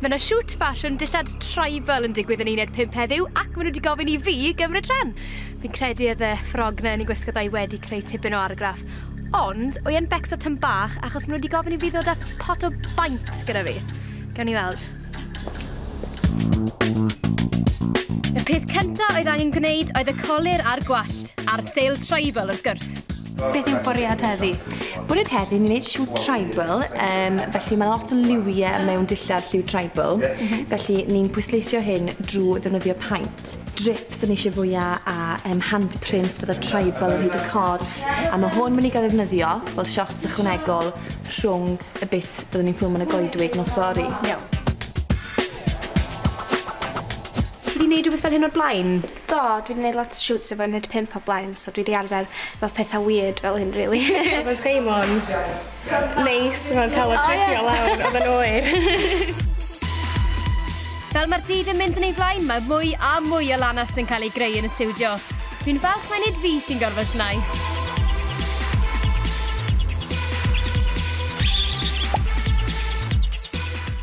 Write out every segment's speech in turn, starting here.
Mae yna shoot ffasiwn dillad tribal yn digwydd yn uned pump heddiw ac maen nhw wedi gofyn i fi gymryd rhan. Fi'n credu oedd y ffrog na yn ei gwisgo dau wedi creu tipyn o argraff. Ond, o e'n becso tyn bach achos maen nhw wedi gofyn i fi ddod â pot o baint gyda fi. Gawn ni weld. Y peth cyntaf oedd angen gwneud oedd y colir a'r gwallt, a'r steil tribal wrth gwrs. Beth yw bwriad heddi? Bwriad heddi, ni'n gwneud lliw tribal, um, felly mae lot o liwiau mewn dillad lliw tribal, mm -hmm. felly ni'n pwysleisio hyn drwy ddefnyddio paint. Drips yn eisiau fwyaf a um, handprints fydda tribal yn hyd y corff, a mae hwn mynd i gael ddefnyddio fel shots ychwanegol rhwng y bit byddwn ni'n ffilm yn y goedwig nos fori. Iawn. Ti wedi gwneud rhywbeth fel hyn o'r blaen? Do dwi 'di neud lot o shoots efo uned pump o blaen so dwi 'di arfer efo petha weird fel hyn rili. Odd o'n teimlo'n neis fel ca'l y trigio lawr odd e'n oer. Fel ma'r dydd yn mynd yn ei flaen mae mwy a mwy o lanast yn cael ei greu yn y stiwdio. Dwi'n falch mai nid fi sy'n gorfod llnau.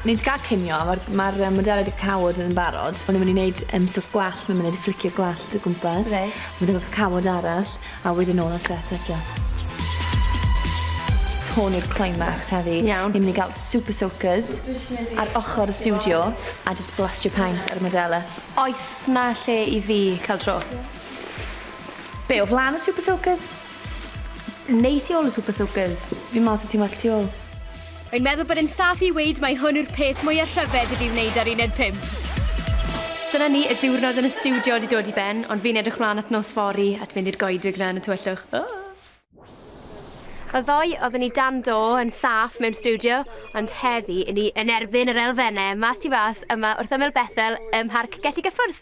Nid gag cinio ma'r ma'r yym modela 'di cawod yn barod. O'n i myn' i neud Yym stwff gwallt ma' mynd i fflicio gwallt o gwmpas. Reit. Mynd efo cacawod arall a wedyn nôl ar set eto. Hwn yw'r climax heddi. Iawn. Ni myn' i ga'l super soakers ar ochor y stiwdio a jyst blastio paent ar y modele. Oes 'na lle i fi ca'l tro? Be' o flan y super soakers? Neu tu ôl y super soakers? Fi myn' i weld sut ti'n weld tu ôl. Rwy'n meddwl bod e'n saff i weud mai hwn yw'r peth mwyaf rhyfedd i fi wneud ar uned pump. Dyna ni, y diwrnod yn y stiwdio wedi dod i ben, ond fi'n edrych mlaen at nos fory, at fynd i'r goedwig 'na yn y tywyllwch. Ohh! Y ddoe oedden ni dan do, yn saff, mewn stiwdio, ond heddi, 'yn ni yn erbyn yr elfennau, mas tu fas, yma wrth ymyl Bethel ym Mharc Gelli Gyffwrdd!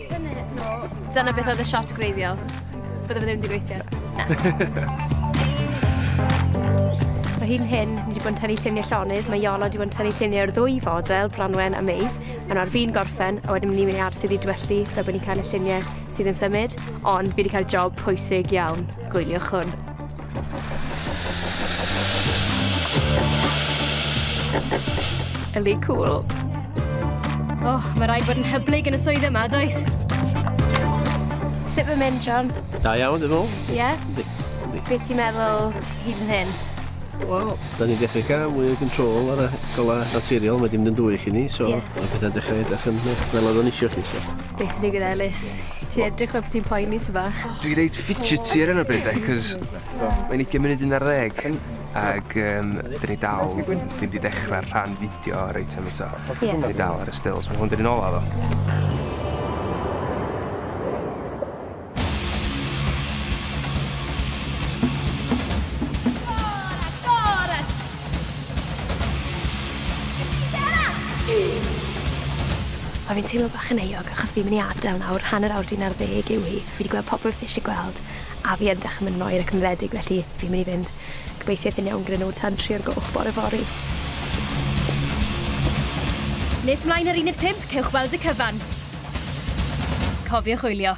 Dyna beth oedd y shot greiddiol. Bydde fe ddim wedi gweithio. Na. Mae hi'n hyn, ni wedi bod yn tynnu lluniau llonydd, mae Iolo wedi bod yn tynnu lluniau o'r ddwy fodel, Branwen a Meidd. Mae'n ar fi'n gorffen, a wedyn ni'n mynd i arsydd i dwellu, fel bod ni'n cael y lluniau sydd yn symud, ond fi wedi cael job pwysig iawn, gwyliwch hwn. Yli cool. Oh, mae rhaid bod yn hyblyg yn y swydd yma, does? Sut mae'n mynd, John? Da iawn, dwi'n meddwl. Ie? Yeah? Be ti'n meddwl hyd yn hyn? Wel, da ni'n dechrau cael mwy o control ar y golau naturiol, mae dim yn dwy chi ni, so yeah. mae pethau'n dechrau edrych yn fel oedd o'n eisiau chi. So. Be sy'n digwydd Elis? Ti edrych fel bod ti'n poeni ti bach. Dwi reit fidgety ar hyn o bryd de, cos mae'n 20 munud un ar ddeg. Ac um, dyn ni dal, dwi wedi dechrau'r rhan fideo reit am eto. Yeah. Dyn ni dal ar y stills, mae hwn dyn ni'n ola ddo. Mae fi'n teimlo bach yn euog achos fi'n mynd i adael nawr, hanner awr 'di na'r ddeg yw hi. Fi 'di gweld popeth fi isie gweld a fi yn dechre myn' yn oer ac yn wledig felly fi'n myn' i fynd. Gobeithio eith e'n iawn gyda nw tan tri o'r gloch bore fory. Nes mlaen yr uned pump, cewch weld y cyfan. Cofiwch wylio!